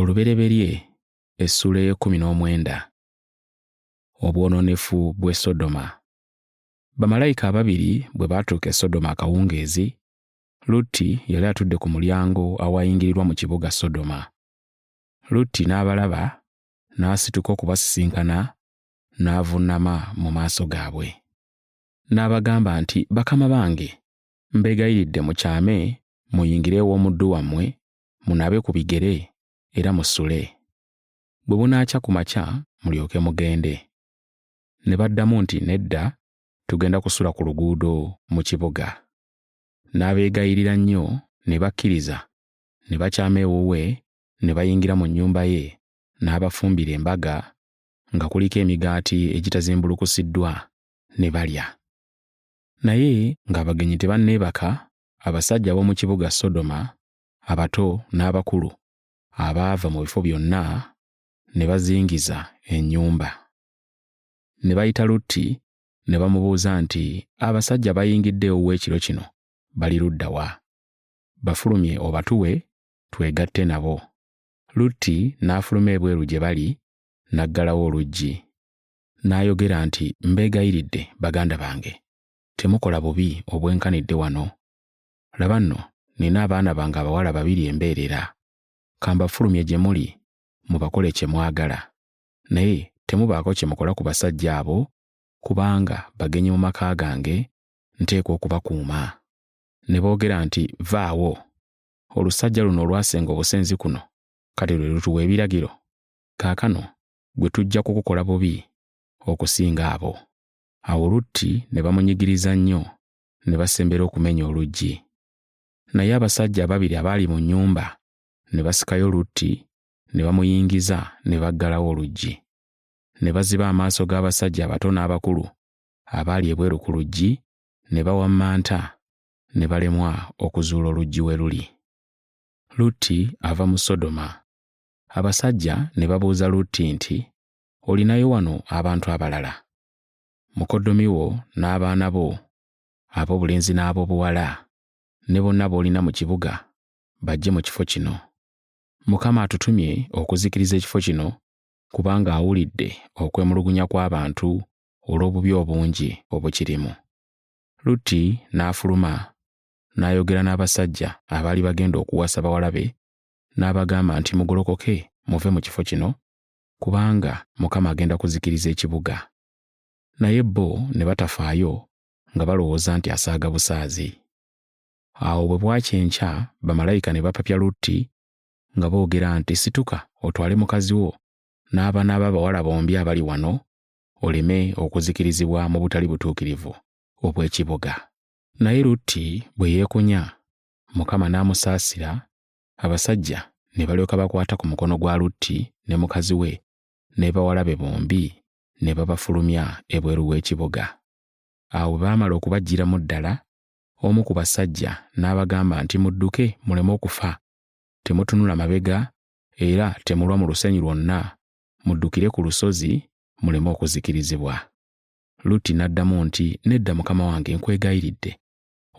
olubereberye essuula ey'ekkumi n'omwenda obwonoonefu bw'e sodoma bamalayika ababiri bwe baatuuka e sodoma akawungeezi lutti yali atudde ku mulyango awayingirirwa mu kibuga sodoma lutti n'abalaba n'asituka okubasisinkana n'avunnama mu maaso gaabwe n'abagamba nti bakama bange mbegayiridde mukyame muyingire ew'omuddu wammwe munabe ku bigere era musule bwe bunaakya ku makya mulyoke mugende ne baddamu nti nedda tugenda kusula ku luguudo mu kibuga n'abeegayirira nnyo ne bakkiriza ne bakyama ewuwe ne bayingira mu nnyumba ye n'abafumbira embaga nga kuliko emigaati egitazimbulukusiddwa ne balya Naye ng'abagenyi tebanneebaka, abasajja ab'omu kibuga Sodoma, abato n'abakulu, abaava mu bifo byonna ne bazingiza ennyumba. Ne bayita Lutti ne bamubuuza nti, Abasajja abayingidde ewuwe ekiro kino bali ludda wa? Bafulumye obatuwe twegatte nabo. Lutti n'afuluma ebweru gye bali n'aggalawo oluggi. n'ayogera nti mbeegayiridde baganda bange temukola bubi obwenkanidde wano laba nno nina abaana bange abawala babiri embeerera kambafulumye gye muli mubakole kye mwagala naye temubaako kye mukola ku basajja abo kubanga bagenyi mu maka gange nteekwa okubakuuma ne boogera nti vaawo olusajja luno olwasenga obusenzi kuno kati lwe lutuwa ebiragiro kaakano gwe tujja kukukola bubi okusinga abo awo lutti ne bamunyigiriza nnyo ne basembera okumenya oluggi naye abasajja ababiri abaali mu nnyumba ne basikayo lutti ne bamuyingiza ne baggalawo oluggi ne baziba amaaso g'abasajja abato n'abakulu abaali ebweru ku luggi ne bawammanta ne balemwa okuzuula oluggi we luli lutti ava mu sodoma Abasajja ne babuuza Lutti nti, Olinayo wano abantu abalala? Mukoddomi wo n'abaana bo ab'obulenzi n'ab'obuwala ne bonna b'olina mu kibuga bajje mu kifo kino. Mukama atutumye okuzikiriza ekifo kino kubanga awulidde okwemulugunya kw'abantu olw'obubi obungi obukirimu. Lutti n'afuluma n'ayogera n'abasajja abaali bagenda okuwasa bawala be n'abagamba nti, Mugolokoke muve mu kifo kino, kubanga Mukama agenda kuzikiriza ekibuga. Naye bo ne batafaayo nga balowooza nti asaaga busaazi. Awo bwe bwakya enkya, bamalayika ne bapapya Lutti nga boogera nti, Situka otwale mukazi wo n'abaana bo abawala bombi abali wano, oleme okuzikirizibwa mu butali butuukirivu obw'ekibuga. Naye Lutti bwe yeekunya, Mukama n'amusaasira abasajja ne balyoka bakwata ku mukono gwa lutti ne mukazi we n'ebawala be bombi ne babafulumya ebweru w'ekibuga awo bwe baamala okubajjiramu ddala omu ku basajja n'abagamba nti mudduke muleme okufa temutunula mabega era temulwa mu lusenyi lwonna muddukire ku lusozi muleme okuzikirizibwa lutti n'addamu nti nedda mukama wange nkwegayiridde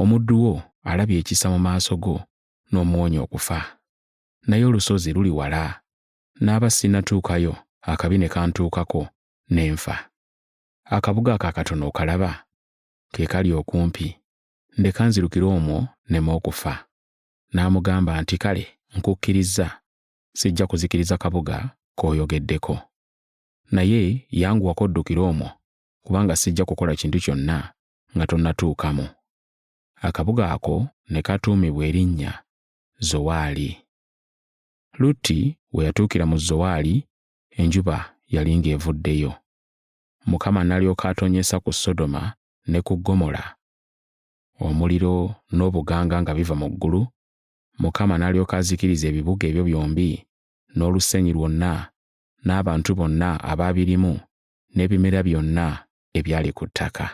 omuddu wo alabye ekisa mu maaso go n'omuwonya okufa naye olusozi luli wala n'aba sinnatuukayo akabi ne kantuukako ne nfa akabuga ako akatono okalaba ke kali okumpi ndeka nzirukire omwo nema okufa n'amugamba nti kale nkukkirizza sijja kuzikiriza kabuga k'oyogeddeko naye yanguwako oddukire omwo kubanga sijja kukola kintu kyonna nga tonnatuukamu akabuga ako ne katuumibwa erinnya Zowaali. Lutti we yatuukira mu Zowaali, enjuba yali ng'evuddeyo. Mukama n'alyoka atonnyesa ku Sodoma ne ku Ggomola omuliro n'obuganga nga biva mu ggulu, Mukama n'alyoka azikiriza ebibuga ebyo byombi n'olusenyi lwonna n'abantu bonna abaabirimu n'ebimera byonna ebyali ku ttaka.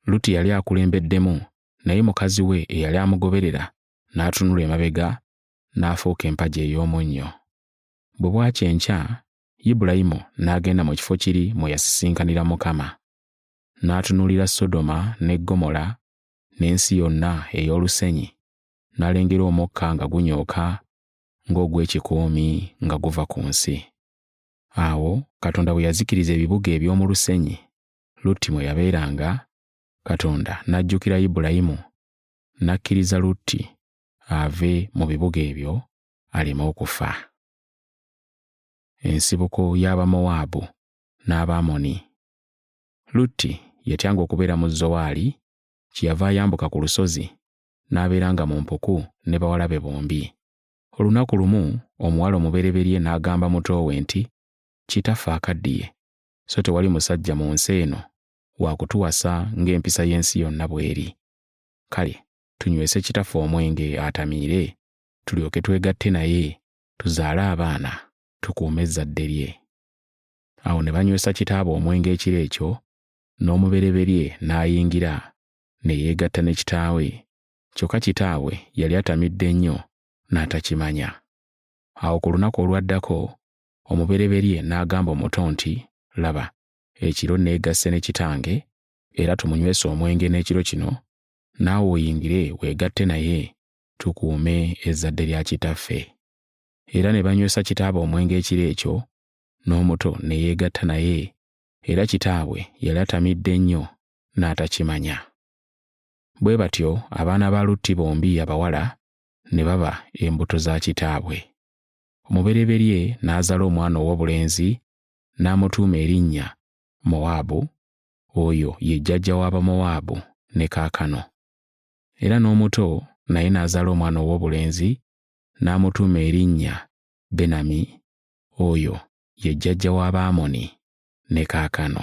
Lutti yali akulembeddemu, naye mukazi we eyali amugoberera n'atunula emabega n'afuuka empagi ey'omunnyo. Bwe bwakya enkya, Ibulayimu n'agenda mu kifo kiri mwe yasisinkanira Mukama. N'atunuulira Sodoma ne Ggomola n'ensi yonna ey'olusenyi, n'alengera omukka nga gunyooka ng'ogw'ekikuumi nga guva ku nsi. Awo Katonda bwe yazikiriza ebibuga eby'omu lusenyi, Lutti mwe yabeeranga, Katonda n'ajjukira Ibulayimu, n'akkiriza Lutti ave mu bibuga ebyo aleme okufa. Ensibuko y'Abamowaabu n'Abaamoni. Lutti yatyanga okubeera mu Zowaali, kyeyava ayambuka ku lusozi n'abeeranga mu mpuku ne bawala be bombi. Olunaku lumu omuwala omubereberye n'agamba muto we nti, Kitaffe akaddiye, so tewali musajja mu nsi eno waakutuwasa ng'empisa y'ensi yonna bw'eri kale tunywese kitaffe omwenge atamiire tulyoke twegatte naye tuzaale abaana tukuume ezzadde lye awo ne banywesa kitaabwe omwenge ekiro ekyo n'omubereberye n'ayingira ne yeegatta ne kitaawe kyokka kitaabwe yali atamidde nnyo n'atakimanya awo ku lunaku olwaddako omubereberye n'agamba omuto nti, Laba, ekiro neegasse ne kitange, era tumunywese omwenge n'ekiro kino, naawe oyingire weegatte naye, tukuume ezzadde lya kitaffe. Era ne banywesa kitaabwe omwenge ekiro ekyo, n'omuto ne yeegatta naye, era kitaabwe yali atamidde nnyo n'atakimanya. Bwe batyo abaana ba Lutti bombi abawala ne baba embuto za kitaabwe. omubereberye n'azala omwana ow'obulenzi n'amutuuma erinnya Mowaabu, oyo ye jjajja w'Abamowaabu ne kaakano. Era n'omuto naye n'azala omwana ow'obulenzi n'amutuuma erinnya Benami, oyo ye jjajja w'Abaamoni ne kaakano.